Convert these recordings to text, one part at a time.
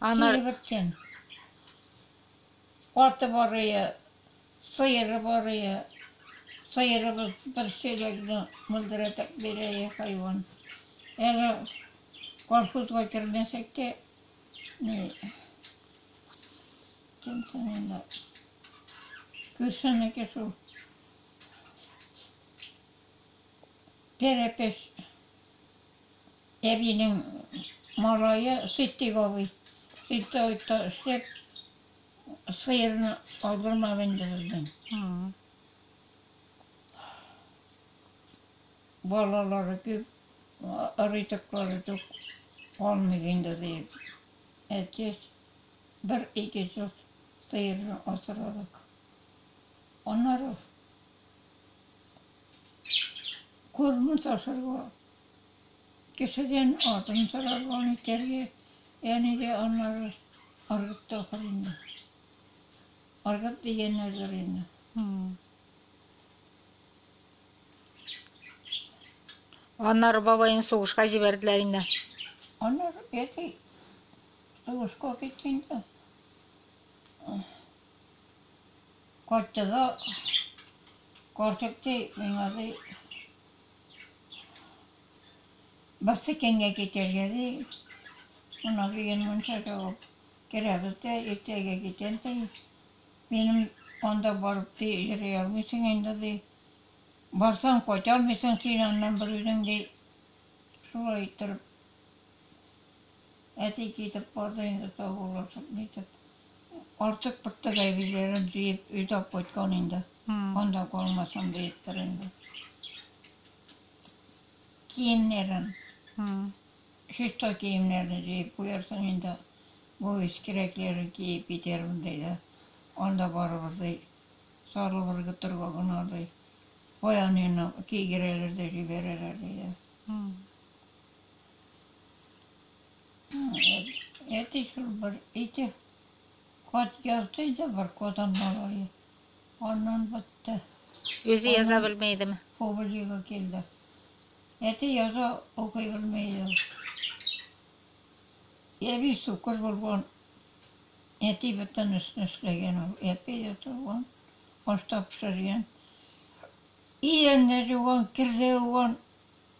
Аны Кире бетсен. Аты барые, сыеры барые. Сыерыбыз бер чиләкне мөлдерәтеп бирәе хайван. Әле колхозга кермәсәк тә, ни, кем соң инде? Күршенеке шул. Пәрәпеш Әбинең малае Ситдыйк абый сельсоветта эшләп, сыерны алдырмады инде бездән. Балалары күп, ризыклары тук калмый инде, диеп, әтиз бер-ике ел сыерны асрадык. Аннары күрмәс ашарга. Кешедән атын сорарга, нитәргә, әни дә аннары ыргытты ахыр инде. Ыргыт дигәннәрдер инде. Аннары бабайны сугышка җибәрделәр инде. Аннары әти сугышка китте инде. Кайтты да, карчык ди, миңа ди, Берсе кемгә китәргә ди. Монда дигән мунчага ук керәбез дә, иртәгә китәм ди. Минем анда барып ди, йөри алмыйсың инде ди. Барсаң, кайта алмыйсың син аннан бер үзең ди. Шулай иттереп. Әти китеп барды инде саубуллашып, нитеп. Артык бер тыгай бийләрен җыеп, өйдә алып кайткан инде. Анда калмасын диептер инде. Киемнәрен. Чиста киемнәрен җыеп куярсың инде. Бу үз кирәкләрен киеп китермен, ди дә. Анда барыбер, ди, сары бер көтергә генә, ди, баянны кигерәләр дә җибәрәләр, ди дә. Әти шул бер ике кат язды иде, бер кодан малае. Аннан бетте. Үзе яза белми идеме? Публика килде. Әти яза укый белми иде. Әби сукыр булган. Әти бөтен эшне эшләгән ул. Әби дә торган, ашта пешергән. Идәнне жуган, керзә юган.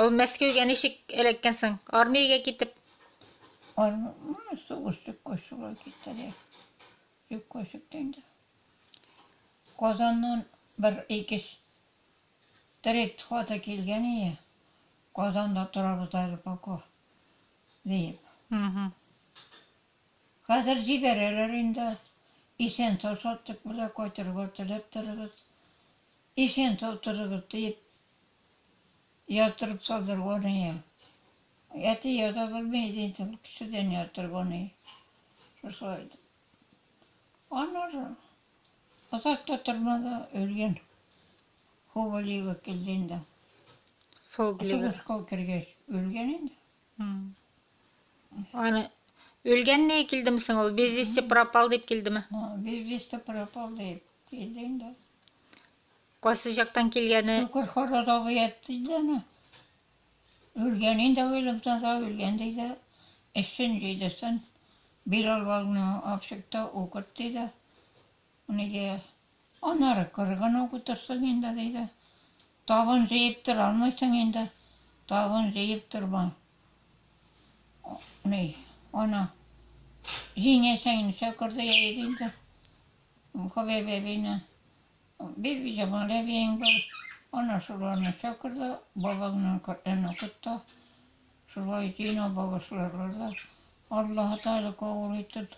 Ул Мәскәүгә ничек эләккән соң? Армиягә китеп. Армия сугыш чыккач шулай китте дә. Юк көчектә инде. Казаннан бер ике трет хаты килгән ие. Казанда торабыз әле пока. Диеп. Хәзер җибәрәләр инде. Исән-сау чаттык белән кайтырга теләп торыгыз. Исән-сау торыгыз, диеп яздырып салдырган ием. Әти яза белми иде инде, ул кешедән яздырган иде. Шушылай итеп. Аннары озак та тормады, үлгән. Хубалига килде инде. Фоглига. Сугышка кергәч, үлгән инде. Аны үлгәнне килдеме соң ул? Без вести пропал дип килдеме? Без вести пропал дип килде инде. Кайсы жактан килгәне? Күкер хорозовый әйтте дәме? Үлгән инде уйлап таза үлгән диде. Эшен җидесен бирал валны апшыкта укыт диде. Унике. Аннары кыргын ук утырсың инде, диде. Табын җыеп тора алмыйсың инде. Табын җыеп торма. Ни, ана, җиңәсең инде, чокырды җыйды инде. Хөбәйбә әбине, Бибиҗамал әбиең бар. Ана шуларны чакырды, бабаңнан Коръән укыт та. Шулай җыйнап багышларлар да. Аллаһы Тәгалә кабул итеп.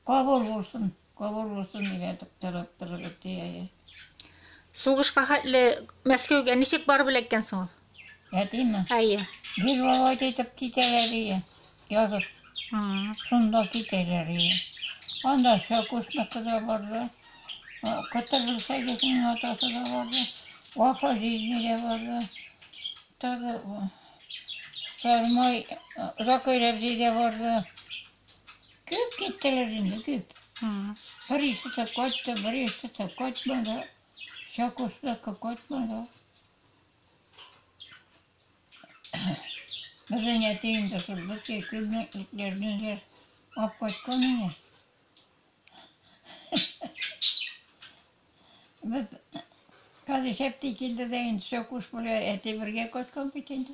Кабул булсын, кабул булсын, дигән тыктырып торыгыз, ди әйе. Сугышка хәтле Мәскәүгә ничек барып эләккән соң ул? Әтиме? Әйе. Гел Володя итеп китәләр ие, язып. Шунда китәләр ие. Анда Шәкүшныкы да барды, Кытыргыз Садикның атасы да барды, Вафа Җизни дә барды, тагы Сармай Закай Рәбзи дә барды. Күп киттеләр инде, күп. Берисе дә кайтты, берисе дә кайтмады. Чакушдагы кайтмады. Безнең әти инде шул бөтен күлне итләрне дә алып кайткан иде. Без Казый Шәпти килде дә инде Чакуш белән әти бергә кайткан бит инде.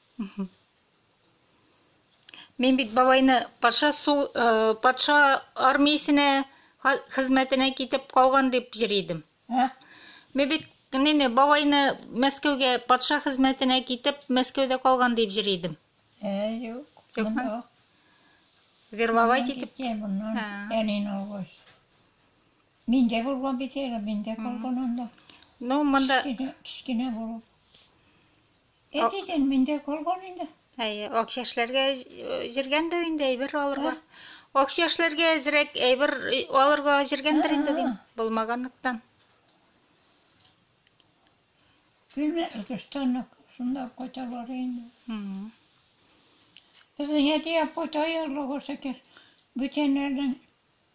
Мин бит бабайны патша су э, патша армиясенә хезмәтенә китеп калган дип җыр идем. Ә? Мин бит нене бабайны Мәскәүгә патша хезмәтенә китеп Мәскәүдә калган дип җыр идем. Ә, юк. Юкмы? Вербовать итеп. Әнин алгач. Мин дә булган бит әле, мин дә калган анда. Ну, монда... Кечкенә булып. Әти ден миндә калган инде. Әйе, ак чәчләргә җиргәндер инде әйбер алырга. Ак чәчләргә әзрәк әйбер алырга җиргәндер инде дим, булмаганлыктан. Күрмә, Өлкештан шунда кайталар инде. Безнең әти апа таярлыгы шәкер бүтәннәрдән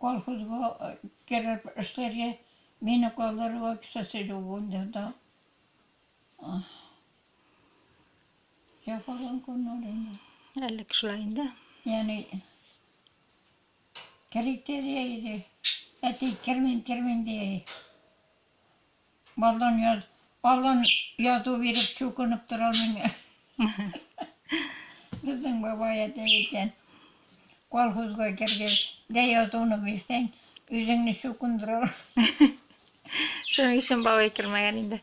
Колхозга кереп эшләргә, мине калдырырга кешесе юк инде анда. Җәфаланган көннәр инде. Әлеге шулай инде. Яни кредит әти кермим, кермим ди. Балдан яз, балдан язу биреп чукынып тора алмыйм. Безнең бабай әтәй әйтә, колхозга кергәч, дә язуны бирсәң, үзеңне чукындыралар. Шуның өчен бабай кермәгән инде.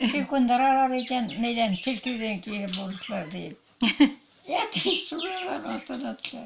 Чукындыралар икән, нидән, чиркәүдән кире бурычлар диеп. Ятим шулар астына төшә.